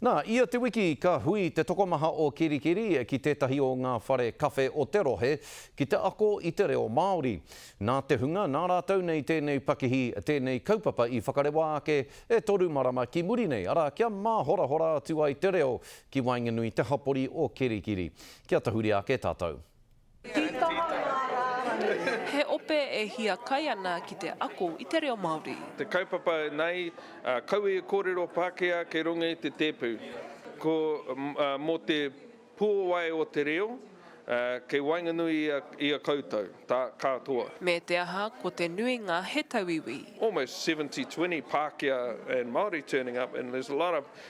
Nā, ia te wiki ka hui te tokomaha o Kerikeri ki tētahi o ngā whare kawhe o te rohe ki te ako i te reo Māori. Nā te hunga nā rātou nei tēnei pakihi, tēnei kaupapa i whakarewa ake e toru marama ki muri nei, arā, kia māhorahora atu ai te reo ki waenganui te hapori o Kerikeri. Kia tahuri ake tātou. Tītaha ngā rārangi. He ope e hiakai ana ki te ako i te reo Māori. Te kaupapa nei, kaua e kōrero Pākehā kei runga i te tēpu. Ko, mō te puawai o te reo, kei waenganui i a koutou, tā, kātoa. Me te aha, ko te nuinga he tauiwi. Almost seventy, twenty Pākehā and Māori turning up and there's a lot of.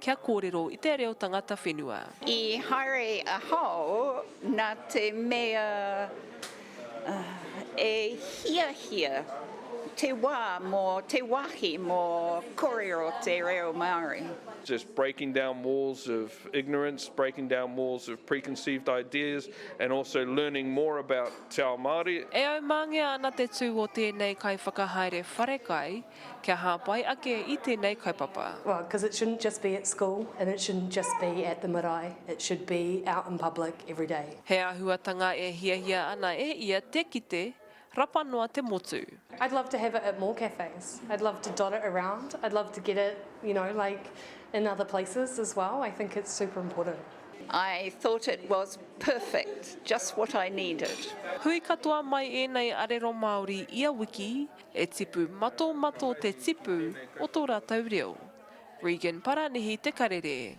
Kia kōrero i te reo tangata whenua. I haere a Hao na te mea e hiahia te wa mo te wahi mo korero te reo Maori. just breaking down walls of ignorance, breaking down walls of preconceived ideas and also learning more about Te Ao Māori. E aumangea ana te tū o tēnei kaiwhakahaere wharekai. Kia hāpai ake i tēnei kaupapa. Well, cause it shouldn't just be at school and it shouldn't just be at the marae, it should be out in public every day. He āhuatanga e hiahia ana e ia te kite, rapa noa te motu. I'd love to have it at more cafes, I'd love to dot it around, I'd love to get it, you know, like in other places as well, I think it's super important. I thought it was perfect, just what I needed. Hui katoa mai ēnei arero Māori ia wiki. E tipu mato mato te tipu o to ratou reo. Regan Paranihi te karere.